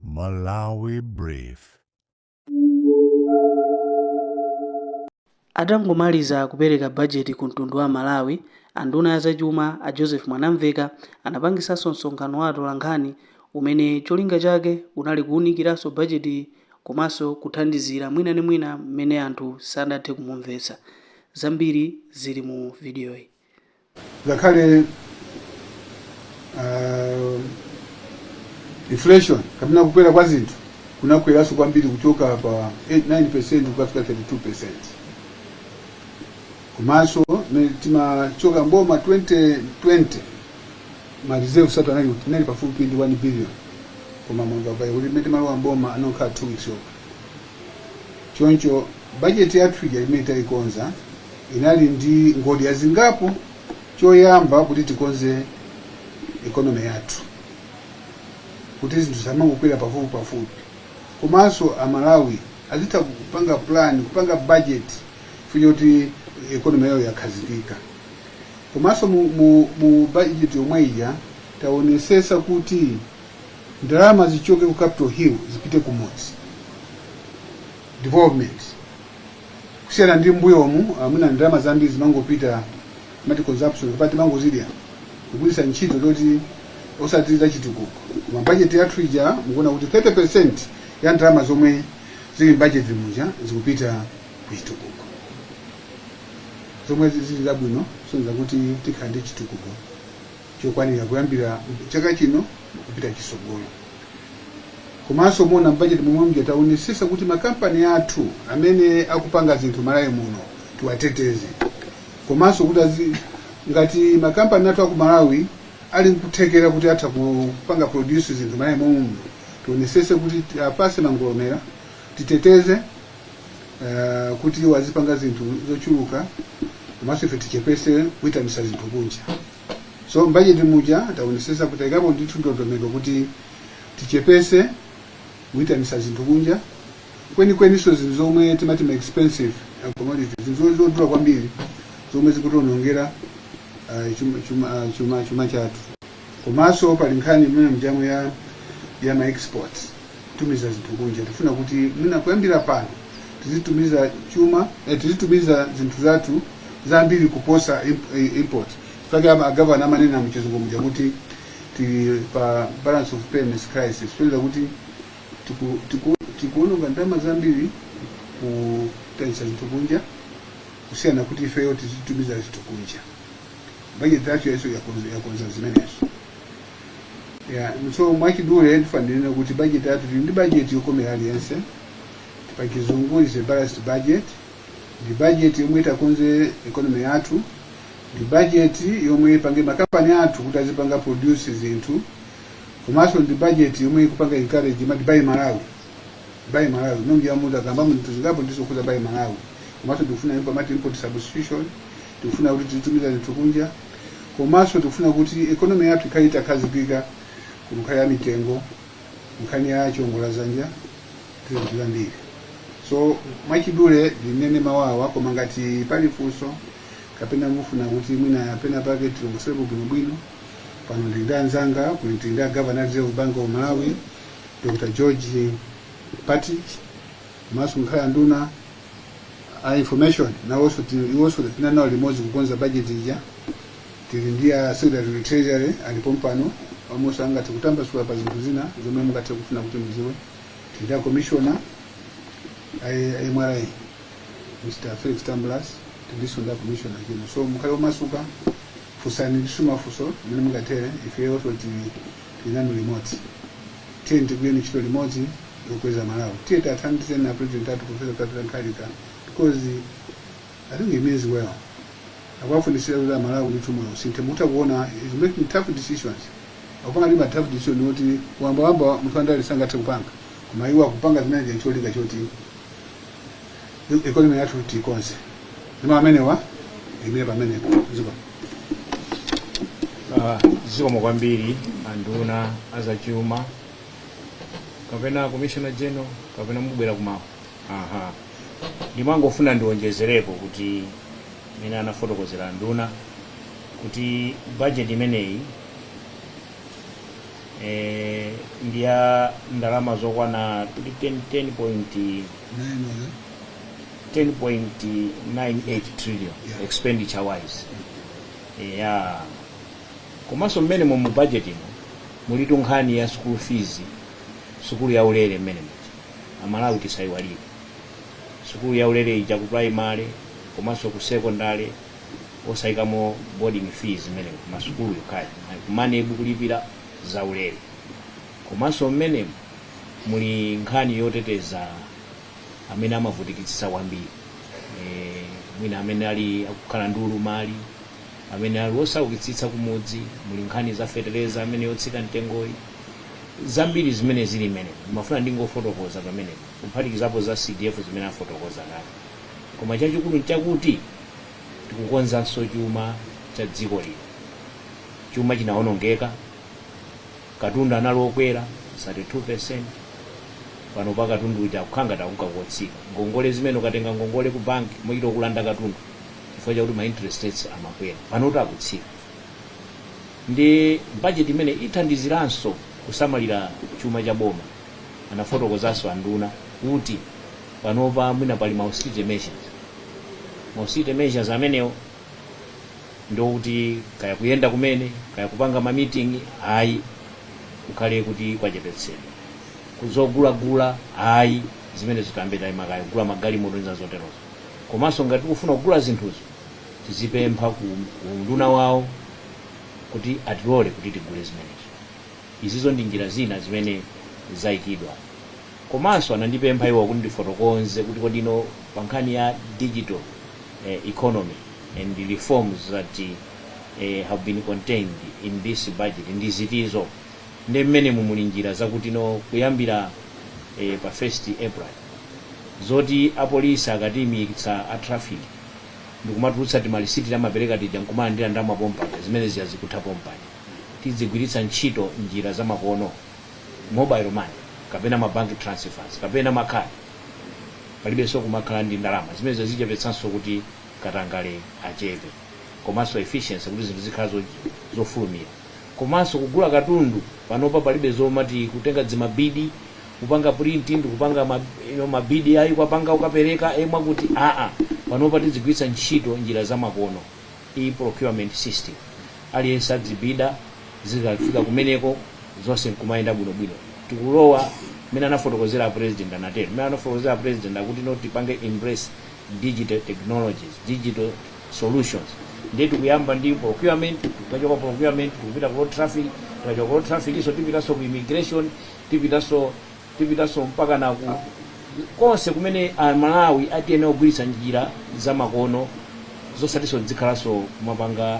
Malawi Brief. Atangomaliza kupereka bajeti ku mtundu wa Amalawi, a nduna ya zachuma a Joseph Mwanamveka anapangisanso msonkhano wa atolankhani umene cholinga chake unali kuunikiranso bajetiyi komanso kuthandizira mwina ndi mwina mmene anthu sanathe kumumvetsa. Zambiri zili mu vidiyoyi. ngakhale uh, inflation kapena kukwera kwa zinthu kunakweranso kwambiri kuchoka pa 9% kukafika 32% komanso mmene timachoka mboma 2020 ma reserve athu anali anali pafupi ndi 1 billion koma mwanga pa kuti mmene timalowa mboma anakhala 2 weeks yokha Choncho bajeti yathu ija imene taikonza inali ndi ngodya zingapo. Choyamba, kuti tikonze economy yathu kuti zinthu zisamangokwera pafupipafupi, komanso Amalawi azitha kupanga plan, kupanga bajeti chifukwa choti economy yawo yakhazikika. Komanso mu, mu, mu bajeti yomwe ija taonesesa kuti ndalama zichoke ku capital hill zipite ku mudzi development kusiyana ndi mbuyomu mmene ndalama zambiri zimangopita amati consumption kapena timangozidya kugwiritsa ntchito zoti osati zachitukuko koma bajeti yathu ija mukuona kuti 30 percent ya ndalama zomwe zili mbajeti muja zikupita ku chitukuko zomwe zili zabwino kusonyeza kuti tikhala ndi chitukuko chokwanira kuyambira chaka chino kupita chisogolo. Komanso muona mbajeti momwe muja taonesesa kuti makampani athu amene akupanga zinthu Malawi muno tiwateteze, komanso kuti azi, ngati makampani athu aku Malawi ali nkuthekera kuti atha kupanga produce zinthu Malawi momwe muno tionesese kuti tiwapase mangolomera titeteze uh, kuti wazipanga zinthu zochuluka komanso ife tichepese kuitanisa zinthu kunja. so mbajeti muja taonesesa kuti taikapo ndithu ndondomeko kuti tichepese kuitanisa zinthu kunja kwenikweninso zinthu zomwe timati ma expensive uh, commodity zinthu zo- zodula kwambiri zomwe zikutionongera uh, chuma, chuma, ah, chuma, chuma chathu komanso pali nkhani imene mujamu ya, ya ma exports kutumiza zinthu kunja tifuna kuti mwina kuyambira pano tizitumiza chuma eh, tizitumiza zinthu zathu zambiri kuposa imp- eh, import paja a gavana amanena mchizungu muja kuti tili pa balance of payments crisis kutanthauza kuti tiku- tiku- tikuononga ndalama zambiri kuitanisa zinthu kunja kusiyana kuti ifeyo tizitumiza zinthu kunja bajeti yathu yaso yakonza yakonza zimenezo Yeah, so mwachidule ndifanira kuti bajeti yathu ndi bajeti yokomera aliyense pa chizungu is a balanced budget ndi bajeti yomwe itakonze economy yathu ndi bajeti yomwe ipange makampani athu kuti azipanga produce zinthu komanso ndi bajeti yomwe ikupanga encourage mati buy malawi buy malawi ndinayamba kukamba zinthu zingapo ndizokhuza buy malawi komanso tikufuna import mati import substitution Tikufuna kuti tizitumiza zinthu kunja komanso tikufuna kuti economy yathu ikhale itakhazikika ku nkhani ya mitengo, nkhani ya chiongoladzanja ndi zinthu zambiri. So mwachidule ndinene mau awa, koma ngati pali funso kapena mufuna kuti mwina pena pake tilongosolepo bwinobwino, pano ndili ndi anzanga kuno tili ndi a Governor Reserve Bank of Malawi Dr. George Partridge komanso muli a nduna a information nawonso tili- iwonso tinali nawo limodzi kukonza budget ija tili ndi a secretary to treasury ali pompano nawonso angathe kutambasula pa zinthu zina zomwe mungathe kufuna kuti mudziwe tili ndi a commissioner a a mra mr felix tambulasi tilinso ndi a commissioner chino so mukhale omasuka funsani ndithu ma funso mmene mungathere ifenso tili Tili nanu limodzi. Tiyeni tigwireni ntchito limodzi yokweza Malawi. Tiyeni tiathandizeni a President athu Professor Arthur Peter Mutharika because I think he means well. Akuwafunitsitsa kuti a Malawi ndithu moyo usinthe. Mukutha kuona he's making tough decisions. Akupanga ndi ma tough decision oti munthu wamba munthu wandale sangathe kupanga. Koma iwo akupanga zimenezi ncholinga choti economy yathu tiikonze ndipo amenewa ndiimire pamenepo ziko Ah, zikomo kwambiri anduna azachuma kapena commissioner general kapena mubwera kumapeto aha ndimangofuna ndionjezerepo kuti mmene anafotokozera anduna kuti budget imeneyi eh, ndi ya ndalama zokwana 10.5 10.98 trillion Yeah. expenditure wise yeah komanso mmenemo mu budget ino mulitu nkhani ya school fees sukulu ya ulere mmenemu kuti amalawi tisayiwalire sukulu ya ulere ija ku primary komanso ku secondary osayikamo boarding fees mmenemo sukulu yokhayo koma MANEB kulipira za ulere Komanso mmenemu muli nkhani yoteteza amene amavutikitsitsa kwambiri, mwina amene ali akukhala ndi ulumali, amene ali osaukitsitsa kumudzi, muli nkhani za fetereza amene yotsika mtengoyi, zambiri zimene zili mmenemu. Ndimafuna ndingofotokoza pamenepa, kuphatikizapo za CDF zimene afotokoza kale. Koma chachikulu n'chakuti tikukonzanso chuma cha dziko lino. Chuma chinawonongeka. Katundu anali okwera 32%, panopa katundu uja akukhala ngati akunka kotsika. Ngongole zimene ukatenga ngongole ku bank amachita kukulanda katundu chifukwa chakuti ma interest rates amakwera. Panotu akutsika. Ndi budget imene ithandiziranso kusamalira chuma cha boma. Anafotokozanso a nduna kuti panopa mwina pali ma austerity measures. Ma austerity measures amenewo ndiokuti kaya kuyenda kumene kaya kupanga ma meeting ayi kukhale kuti kwachepetsedwa kuzogulagula ayi zimenezi tayamba tayima kaye kugula magalimoto ndi zoterozo komanso ngati tikufuna kugula zinthuzo tizipempha ku ku unduna wawo kuti atilole kuti tigule zimenezo izizo ndi njira zina zimene zayikidwa Komanso anandipempha iwo kuti ndifotokonze kuti kodi no pa nkhani ya digital economy and reforms that have been contained in this budget ndi zitizo ndiye mmenemu muli njira zakuti no kuyambira eh, pa 1st April zoti apolisi akatiimikitsa a traffic ndikumatulutsa timalisiti amapereka tija nkumalandira ndalama pompano zimene zija zikutha pompano tidzigwiritsa ntchito njira zamakono mobile money kapena ma bank transfers kapena makhadi palibenso kumakhala ndi ndalama zimenezo zichepetsanso kuti katangale achepe komanso efficiency kuti zinthu zikhala zo- zofulumira komanso kugula katundu panopa palibe zomati kutenga dzimabidi kupanga print ndi kupanga ma- you know, mabidi ayi kupanga ukapereka emwa kuti aa panopa tidzigwiritsa ntchito njira zamakono e-procurement system aliyense adzibida zikafika kumeneko zonse nkumayenda bwinobwino tikulowa mmene anafotokozera a president anatero mmene anafotokozera a president akuti no tipange embrace digital technologies digital solutions ndiye tikuyamba ndi procurement tikachoka procurement tikupita ku road traffic tikachoka ku road traffic iso tipitanso ku immigration tipitanso Tipitanso mpakana ku konse kumene a Malawi akuyenera kugwiritsa njira za makono zosatinso tidzikhalanso kumapanga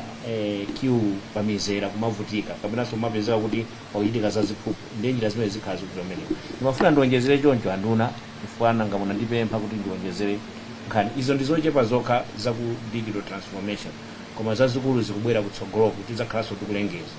queue pa mizera kumavutika kapenanso kumapezeka kuti pakuchitika za ziphuphu ndiye njira zimenezi zikhala zikuvuta kumeneku. Ndimafuna ndionjezere choncho anduna chifukwa nanga munandipempha kuti ndionjezere nkhani. Izo ndi zochepa zokha za ku digital transformation koma zazikulu zikubwera kutsogoloku tidzakhalanso tikulengeza.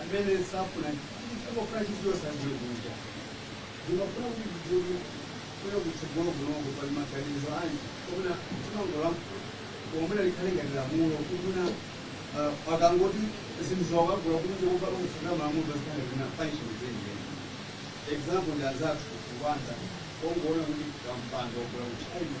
amene safuna amafuna chinthu chosadziwe kunja ndimafuna kuti ndidziwe kuya kutsogolo kunoko pali maganizo anji omuna timangolankhula omuna likhale ngati lamulo kumuna akangoti zinthu wakagula kunja kupaka kutsogera malamulo pazikhale zina punishment zenjeni example ndi anzathu ku Rwanda ongoona kuti kampando wagula kuchina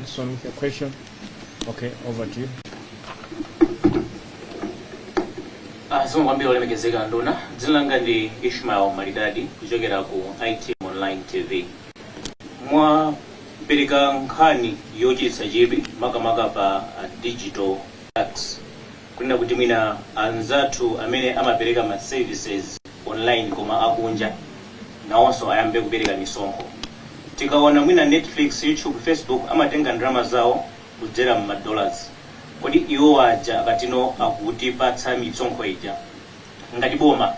This one with a question. Okay, over to you. zikomo kwambiri olemekezeka nduna dzina langa ndi ishmael malidadi kuchokera ku it online tv mwapereka nkhani yochititsa chidwi makamaka pa ah, digital tax kunena kuti mwina anzathu amene amapereka ma services online koma akunja nawonso ayambe kupereka misonkho. Tikaona mwina Netflix, YouTube, Facebook amatenga ndalama zawo kudzera mma dollars, kodi iwo aja akatino akutipatsa misonkho ija ngati boma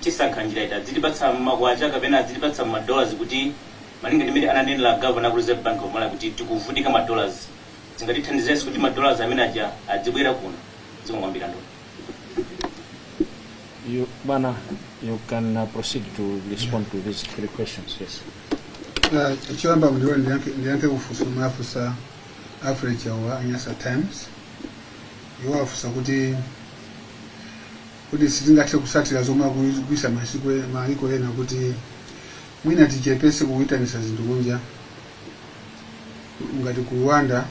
tisankha njira iti, adzitipatsa mma kwacha kapena adzitipatsa mma dollars kuti malinga ndi mmene ananenera governor aku Reserve Bank of Malawi kuti tikuvutika ma dollars? Zingatithandizenso kuti ma dollars amene aja adzibwera kuno. Zikomo kwambiri anduna. Nduna, you can uh, proceed to respond to these three questions. Yes. Ah, choyamba mndiwe ndiyankhe ndiyankhe kufunso wafunsa average wa Nyasa times iwo afunsa kuti kuti sitingathe kutsatira zomwe akuchita masiku e- maiko ena kuti mwina tichepetse kuitanisa zinthu kunja ngati ku rwanda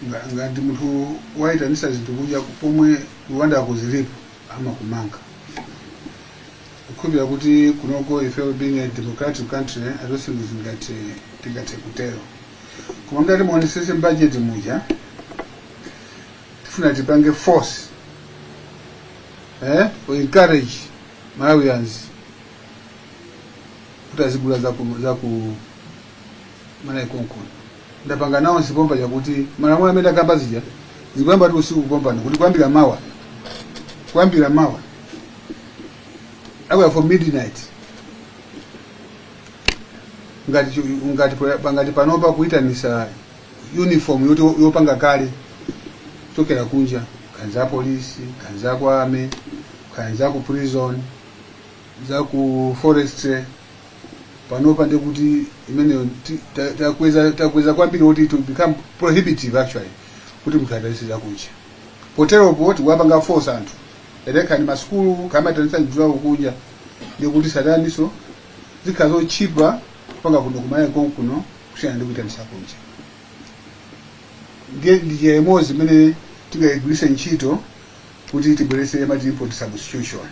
nga- ngati munthu wayitanisa zinthu kunja pomwe rwanda kuti zilipo amakumanga ndikukhulupirira kuti kunoko ife being a democratic country i don't think zoti tingathe kutero koma ngati muonetsetse budget muja tifuna tipange force eh, to encourage malawians kuti azigula za ku za ku malawi konkuno ndapanga nawo chipomba chakuti malamulo amene ndakamba zija zikuyamba usiku kutanthauza kuti kuyambira mawa kuyambira mawa kuyambira midnight ngati chu- ngati pa- ngati panopa kuyitanisa uniform yoti yopanga kale chokera kunja kaya za apolisi kaya za ku army kaya za ku prison za ku forestry panopa ndiye kuti imeneyo ti- ta- takweza takweza kwambiri kuti to become prohibitive actually kuti munthu asaitanitse zakunja poteropo tikuwapanga force anthu olo kaya ndi masukulu kumaitanitsa nsalu kunja ndi kuti tsopano zikhala zotchipa kupanga kuno kumalawi konkuno kusiyana ndi kuitanitsa kunja ndiye ndi njira imodzi imene tingayigwiritse ntchito kuti tibweretse timati import substitution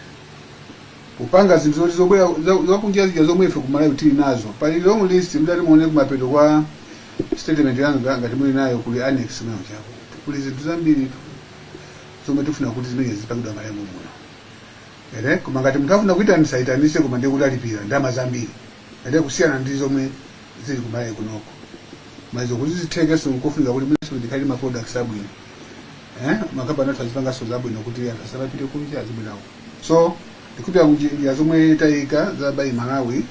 kupanga zinthu zoti zobwera za- zakunja zija zomwe ife kumalawi tili nazo pali long list mdati muone kumapeto kwa statement yanga ngati muli nayo kuli annex mwayo chako kuli zinthu zambiri zomwe tifuna kuti zimenezi zipangidwa mMalawi muno koma ngati munthu afuna kuitanisa aitanise koma ndiye kuti alipira ndalama zambiri kusiyana ndi zomwe zili kumalawi kunoko maizo kuti zitheke so nkofunika kuti mwinanso tikhale ma products abwino eh makampani athu azipanganso zabwino kuti anthu asamapite kunja zabwinowo so ndikhulupirira njira zomwe tayika za buy malawi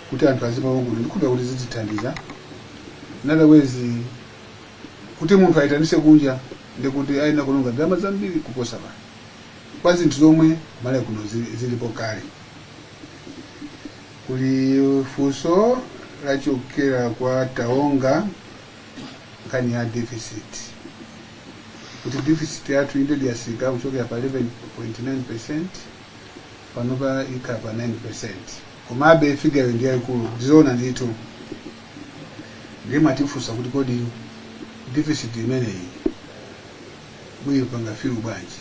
kuti anthu azimawo kuno ndikhulupirira kuti zitithandiza otherwise kuti munthu ayitanise kunja ndikuti ayina kulonga ndalama zambiri kuposa pano kwa zinthu zomwe malawi kuno zili- zilipo kale kuli funso lochokera kwa taonga nkhani ya deficit kuti deficit yathu indeed yasika kuchokera pa 11.9 percent panopa ikhala pa 9 percent komabe figure yo ndi yayikulu ndizoona ndithu ndiye mwatifunsa kuti kodi deficit imeneyi muyipanga fill bwanji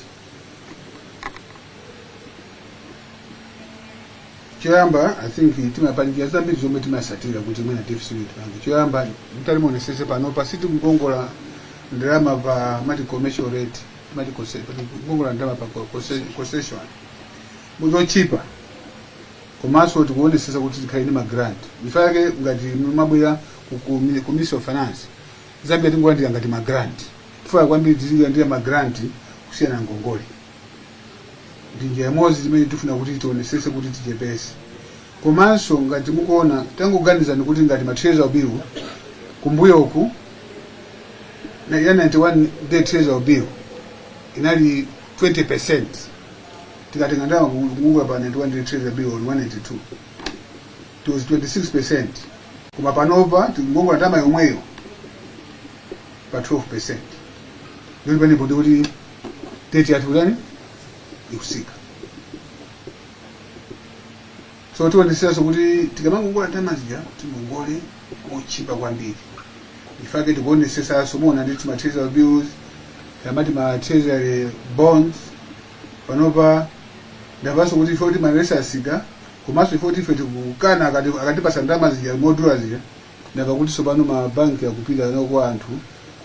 choyamba i think pali njira zambiri zomwe timasatira kuti mwina deficit tipange choyamba mutati muonesese panopa sitikukongola ndalama pa mati commercial rate mati conce- pa- kukongola ndalama pa co- conce- concession mochipa komanso tikuonesesa kuti tikhale ndi magrant nchifukwa chake ngati mumabwera ku- ku mi- ku ministry of finance zambiri tingolandira ngati ma grant tifuna kwambiri tizilandira ma grant kusiyana ngongole ndi njira imodzi zimene tifuna kuti tionesese kuti tichepese komanso ngati mukuona tangoganizani kuti ngati ma treasury bill kumbuyoku na- ya 91 day treasury bill inali 20 percent tikatenga ndalama kungongola pa 91 day treasury bill on 182 it was 26% koma panopa tikungokongola ndalama yomweyo pa 12% ndikuti pamenepo ndikuti debt yathu ikutani ikusika so tionesesanso kuti tikamangongola ndalama zija tingongole mochipa kwambiri nchifukwa chake tikuonesesanso muona nditi ma treasury bills timati ma treasury bonds panopa mwamvanso kuti ife kuti ma rates asika Komanso ife oti ife tikukana akati- akatipasa ndalama zija modula zija ndiye kuti tsopano ma bank akupita nawo kwa anthu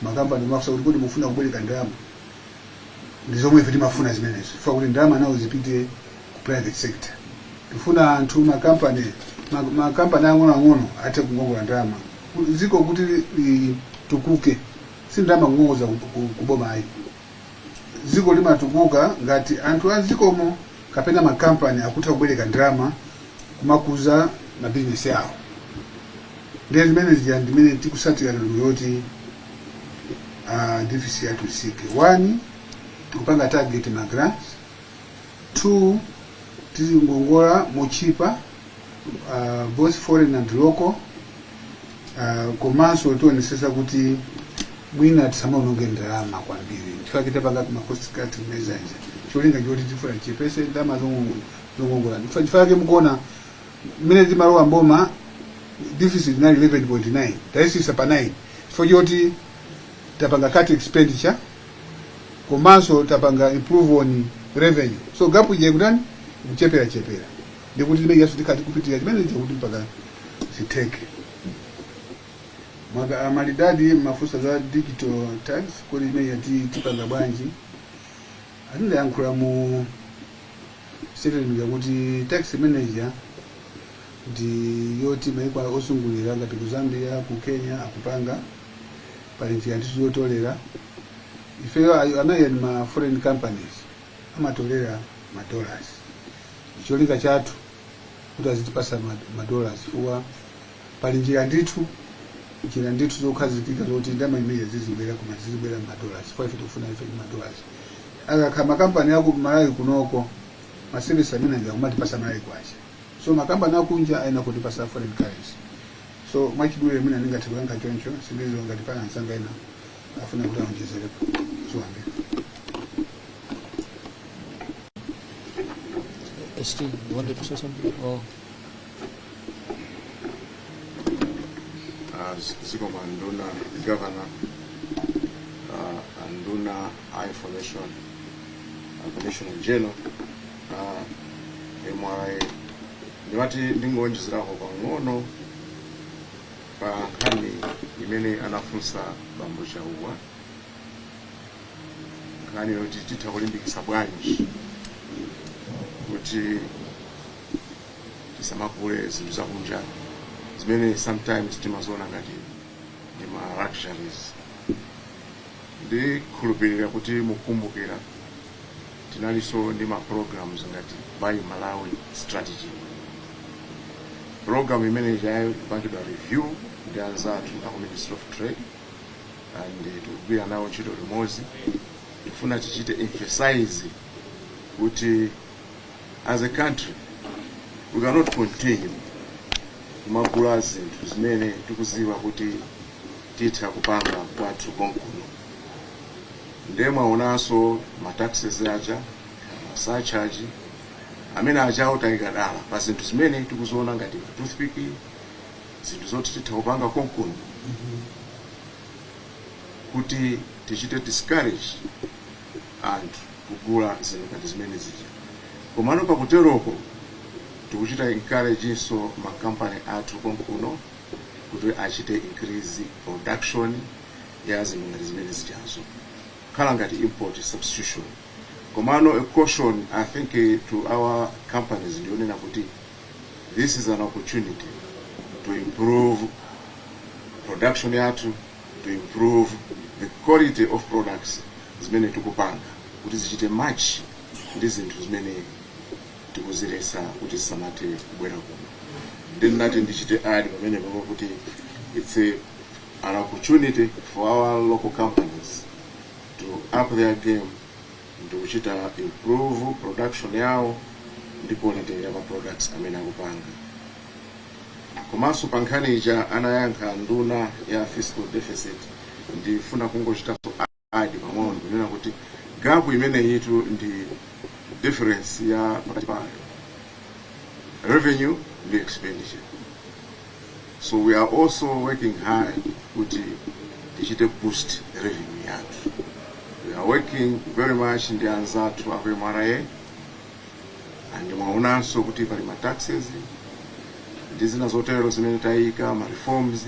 ma company kumafunsa kuti kodi mufuna kubwereka ndalama ndi zomwe ife timafuna zimenezo chifukwa kuti ndalama nawo zipite ku private sector tifuna anthu ma company ma, ma company ang'onoang'ono athe kungongola ndalama Ku- dziko kuti litukuke si ndalama kungongozedwa ku- ku- kuboma ayi dziko limatukuka ngati anthu a m'dzikomo kapena makampani akutha kubwereka ndalama kumakuza mabizinesi awo. Ndiye zimene zija ndimene tikusatira ndondomeko yoti ah, deficit yathu isike 1 tikupanga target ma grants 2 tizingongola motchipa uh, both foreign and local uh, komanso tionesesa kuti mwina tisamaononge ndalama kwambiri nchifake tapanga ma cost cutting measures cholinga choti tifuna tichepese ndalama zongo- zongongola Ndifa- chifake mukuona mmene timalowa mboma deficit inali 11.9 tayisisa pa 9 chifukwa choti tapanga cut expenditure komanso tapanga improve on revenue so gap ija ikutani ikuchepera chepera ndikuti imene ijaso tikhala tikupitirira chimene icho kuti mpaka zitheke Maka- a Malidadi amafunsa za digital tax kodi imene ija tipanga bwanji ndinayankhula mu statement yakuti tax imene ija ndi yoti maiko ozungulira ngati ku zambia ku kenya akupanga pali njira ndithu zotolera ifeyo awo amene ali ma foreign companies amatolera ma dollars cholinga chathu kuti azitipasa ma- ma dollars chifukwa pali njira ndithu njira ndithu zokhazikika zoti ndalama zimenezi zibwera koma zizibwera ma dollars chifukwa ife tikufuna ife ndi ma dollars akakhala makampani aku malawi kunoko ma service amene aja kumatipasa malawi kwacha so makampani akunja ayenera kutipasa foreign currency So mwachidule mwina ndingathe kuyankha choncho sindiziwa ngati pali anzanga ena afuna kuti aonjezerepo ziwambe ST, you wanted to say something? Oh. uh, zikomo anduna governor uh, anduna a information uh, commissioner general MRA, ndimati ndingowonjezerapo pang'ono pa nkhani imene anafunsa bambo chauwa nkhani yoti titha kulimbikitsa bwanji kuti tisamagule zinthu zakunja zimene sometimes timaziona ngati ndi ma luxuries ndikhulupirira kuti mukumbukira Tinalinso ndi ma programs ngati Buy Malawi Strategy. Program imene ijayo ikupangidwa review ndi anzathu aku Ministry of Trade and eh, tikugwira nawo ntchito limodzi. Tikufuna tichite emphasize kuti as a country we cannot continue kumagula zinthu zimene tikuziwa kuti titha kupanga kwathu konkuno. Nde mwaonanso ma taxes aja, ma surcharge, amene aja taika dala pa zinthu zimene tikuziona ngati ma toothpick, zinthu zoti titha kupanga konkuno kuti tichite discourage anthu kugula zinthu ngati zimene zija. Komano pakuteroko tikuchita encourage nso ma company athu konkuno kuti achite increase production. ya zinthu ngati zimene zijazo kukhala ngati import substitution komano a caution i think eh, to our companies ndiyonena kuti this is an opportunity to improve production yathu to improve the quality of products zimene tikupanga kuti zichite match ndi zinthu zimene tikuzilesa kuti zisamathe kubwera kuno then nati ndichite add pamenepo kuti it's a an opportunity for our local companies to up their game ndikuchita improve production yawo ndi quality ya ma products amene akupanga komanso pa nkhani ija anayankha nduna ya fiscal deficit ndifuna kungochitapo add pang'ono kunena kuti gap imeneyitu ndi difference ya pakati pa revenue ndi expenditure so we are also working hard kuti tichite boost revenue yathu we are working very much ndi anzathu aku mra and mwaonanso kuti pali ma taxes ndi zina zotero zimene tayika ma reforms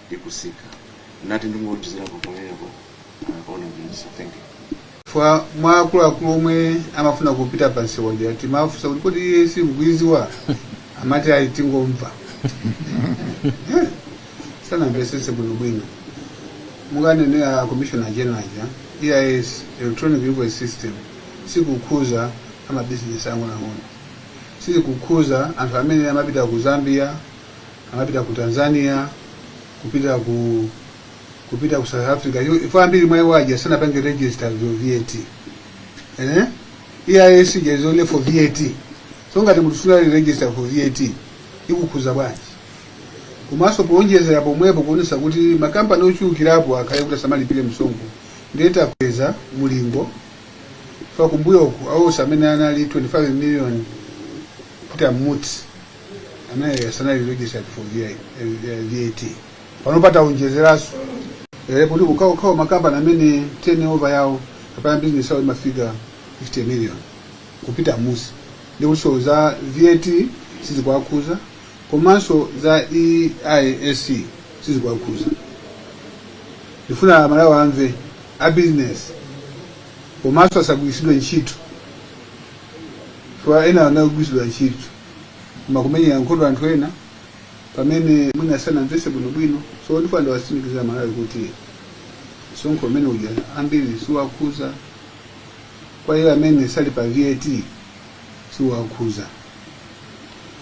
ikusika nati ndingowonjezerapo pamenepo uh, honorable minister thank you fwa mwa akuluakulu omwe amafuna kupita pa nsewa uja timafunsa kuti kodi EIS mukuiziwa amati ayi tingomva Eh, sanamvesese bwinobwino mmene ananenera commissioner general aja eis electronic invoice system sikukhuza amabizinesi ang'onoang'ono sikukhuza anthu amene amapita ku zambia amapita ku tanzania kupita ku kupita ku south africa Yo- ifo ambiri mwa iwo aja sanapange register for vat eh? eis ija is only for vat so ngati munthu sunapange register for vat ikukhuza bwanji komanso poonjezera pomwepo kuonesa kuti makampani ochulukirapo akhale kuti asamalipire msonkho ndiye takweza mulingo fa kumbuyoku awonse amene anali 25 million kuti amutsi anayi asanali registered for VI- eh, VAT pano pataonjezeranso eh, ndi kuti ukaona makampani amene turnover yawo kapena business yawo imafika 50 million kupita mmusi ndi kuti za VAT sizikuwakhuza komanso za EIS sizikuwakhuza ndifuna aMalawi amve a business komanso asagwiritsidwe ntchito chifukwa ena anagwiritsidwa ntchito koma kumenyera nkhondo anthu ena pamene mwina sanamvese bwinobwino so ndifuna ndiwatsimikizire aMalawi kuti msonkho umene uja ambiri siwakhuza kwa iwo amene sali pa vat siwakhuza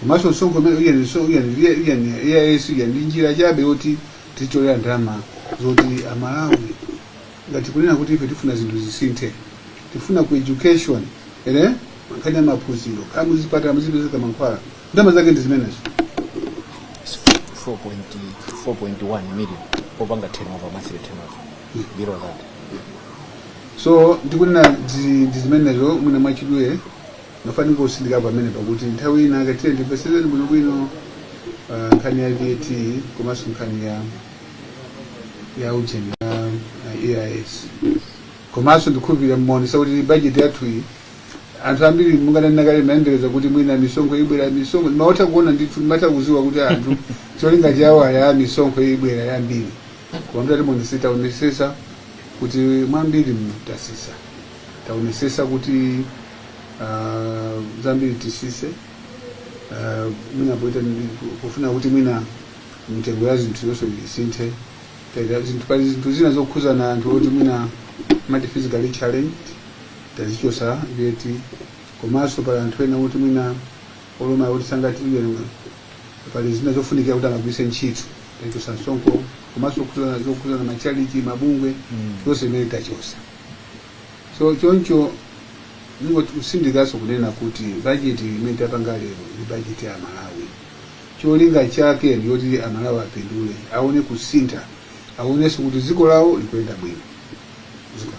komanso msonkho umene uja ni so- uja ni V- uja ni EIS uja ndi njira chabe yoti titolere ndalama zoti amalawi ngati tikunena kuti ife tifuna zinthu zisinthe tifuna ku education ere mankhani ya maphunziro kaya muzipatala muzipezeka mankhwala ndalama zake ndi zimenezo 4.1 million popanga turnover monthly turnover below that so ndikunena dzi- ndi zimenezo mwina mwachidule nafuna kusindika pamene pakuti nthawi ina ake tidzamvesesane bwinobwino ah, nkhani ya vat komanso nkhani ya ya ujeni ya ya EIS komanso ndikukhulupirira mwaona kuti bajeti yathu iyi anthu ambiri munganena kale mumayembekeza kuti mwina misonkho ibwera misonkho ndimatha kuona ndithu ndimatha kuziwa kuti anthu cholinga chawo ali a misonkho ibwera yambiri koma mtati muonesese taonesesa kuti mwambiri mu tasisa taonesesa kuti ah, zambiri tisise Ah, mwina poita ndi- pofuna kuti mwina mitengo ya zinthu yonse kuti isinthe Taita zinthu pali zinthu zina zokhuzana anthu oti mwina amati physically challenged tazichosa VAT komanso pali anthu ena oti mwina olumala oti sangatilire pali zina zofunikira kuti amagwiritse ntchito tachosa msonkho komanso zokhuzana zokhuzana macharity mabungwe zonse zimene tachosa so choncho ndingosindikanso kunena kuti bajeti imene tapanga lero ndi bajeti ya aMalawi Cholinga chake ndi choti amalawi apindule, aone kusintha, aonenso kuti dziko lawo likuyenda bwino. Zikomo.